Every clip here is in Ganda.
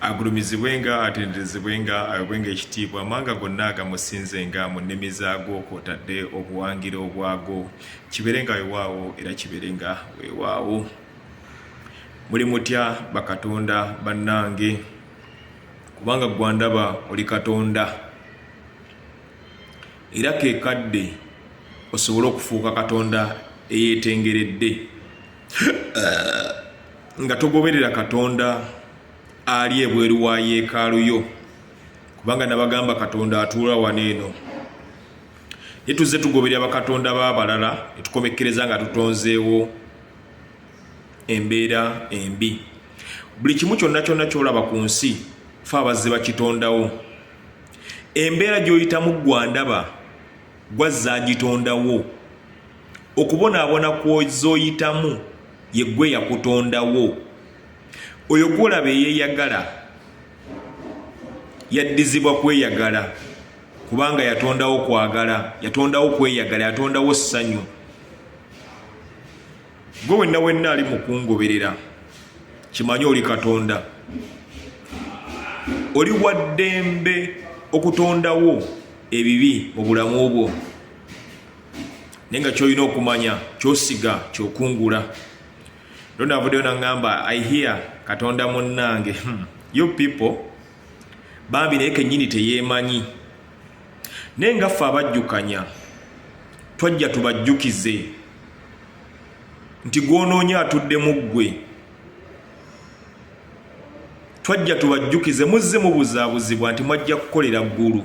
agulumizibwenga atenderezebwenga awebwenga ekitiibwa amawanga gonna agamusinzenga mu nnimi zaago kwotadde obuwangiro obwago kibeerenga wewaawo era kibeerenga wewaawo muli mutya bakatonda bannange kubanga gwandaba oli katonda era kekadde osobole okufuuka katonda eyetengeredde eh, nga togoberera katonda ali ebweru wa yeekaalu yo kubanga nabagamba katonda atuula wano eno ye tuzze tugoberera bakatonda b'abalala netukomekkereza nga tutonzeewo embeera embi buli kimu kyonna kyonna kyolaba ku nsi fe abazze bakitondawo embeera gy'oyitamu gwandaba gwazza agitondawo okubonaabona kwozoyitamu yeggwe yakutondawo oyo gwolaba eyeyagala yaddizibwa kweyagala kubanga yatondawo kwagala yatondawo kweyagala yatondawo ssanyu gwe wenna wenna ali mukungoberera kimanye oli katonda oli waddembe okutondawo ebibi mu bulamu bwo naye nga kyolina okumanya kyosiga kyokungula ero navuddeyo naŋamba i hear katonda munnange hmm. you people bambi naye kenyini teyemanyi naye nga ffe abajjukanya twajja tubajjukize nti gwonoonya atuddemu ggwe twajja tubajjukize muzze mubuzaabuzibwa nti mwajja kukolera ggulu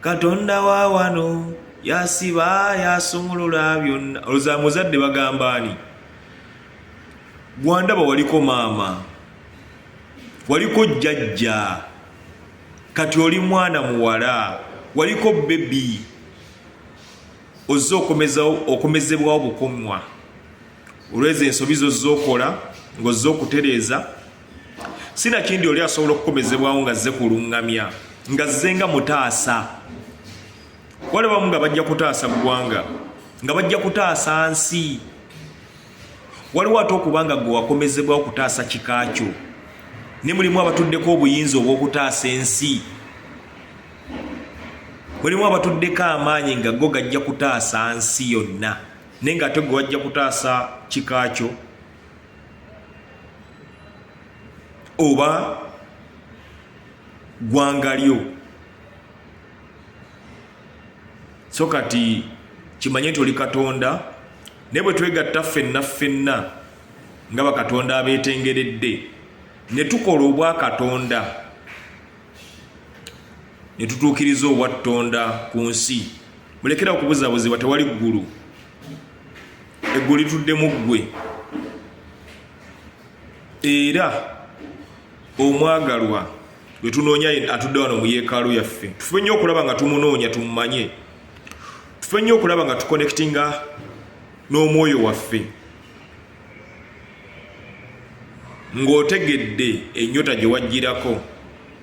katonda wa wano yasiba yasumulula byonna oloza muzadde bagambaani gwandaba waliko maama waliko jjajja kati oli mwana muwala waliko bebi ozze okomezawo okomezebwawo bukomwa olwezo ensobi zozze okola ng'ozze okutereeza sinakindi oli asobola okukomezebwawo nga zze kulungamya nga zze nga mutaasa walabamu nga bajja kutaasa ggwanga nga bajja kutaasa nsi waliwo ate okubanga gwe wakomezebwa okutaasa kika kyo ne mulimu abatuddeko obuyinza obw'okutaasa ensi mulimu abatuddeko amaanyi nga go gajja kutaasa nsi yonna naye nga ate gwe wajja kutaasa kika kyo oba gwanga lyo so kati kimanye nti oli katonda naye bwe twegatta ffenna ffenna nga bakatonda abeetengeredde ne tukola obwa katonda ne tutuukiriza obwattonda ku nsi mulekera okubuzabuzibwa tewali ggulu eggulu lituddemu ggwe era omwagalwa gwe tunoonya atudde wano mu yeekaalu yaffe tufube nnyo okulaba nga tumunoonya tumumanye tufube nnyo okulaba nga tukonekitinga n'omwoyo waffe ng'otegedde ennyota gye wajjirako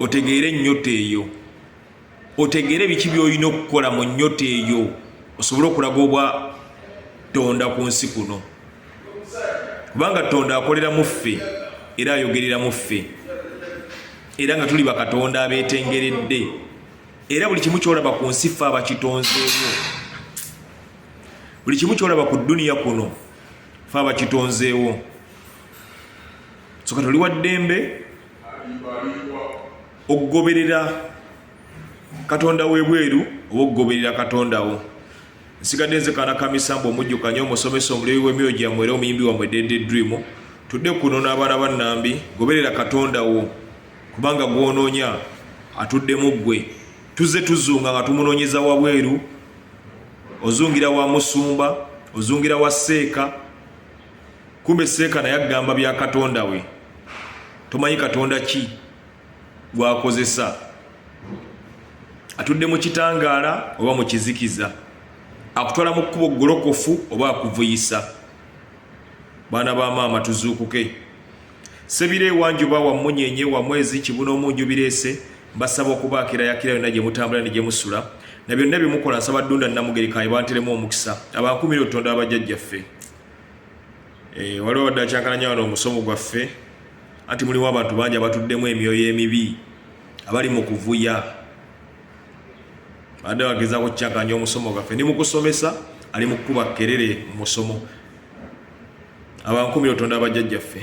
otegeere ennyota eyo otegeere biki byolina okukola mu nnyota eyo osobole okulaga obwa tonda ku nsi kuno kubanga tonda akolera mu ffe era ayogerera mu ffe era nga tuli bakatonda abetengeredde era buli kimu kyolaba ku nsi ffe abakitonzeewo buli kimu kyolaba ku duniya kuno ffe abakitonzeewo soka toli wa ddembe okugoberera katonda webweru oba okugoberera katonda wo nsigadde nze kaana kamisamba omujjukanye omusomesa omulebi w'emyoyo gyammwe era omuyimbi wamwe dede dream tudde kuno n'abaana ba nnambi goberera katonda wo kubanga gw'onoonya atuddemu ggwe tuzze tuzunga nga tumunoonyeza wabweru ozungira wa musumba ozungira wa seeka kumbe seeka naye agamba bya katonda we tomanyi katonda ki gwakozesa atudde mu kitangaala oba mu kizikiza akutwala mu kkubo golokofu oba akuvuyisa baana ba maama tuzuukuke sebira ewanjuba wa munyenye wa mwezi kibuna omunju bireese mbasaba okubaakira yakira yonna gye mutambula ne gye musula na byonna bye mukola nsaba ddunda namugerikaye banteremu omukisa abankumira otonda abajjajjaffe Eh, waliwo wadde akyankalanya wano omusomo gwaffe anti muliwo abantu bangi abatuddemu emyoyo emibi abali mu kuvuya badde bagezako kukyankanya omusomo gwaffe ndi mukusomesa ali mukukuba kerere mu musomo abankumira otonda abajjajjaffe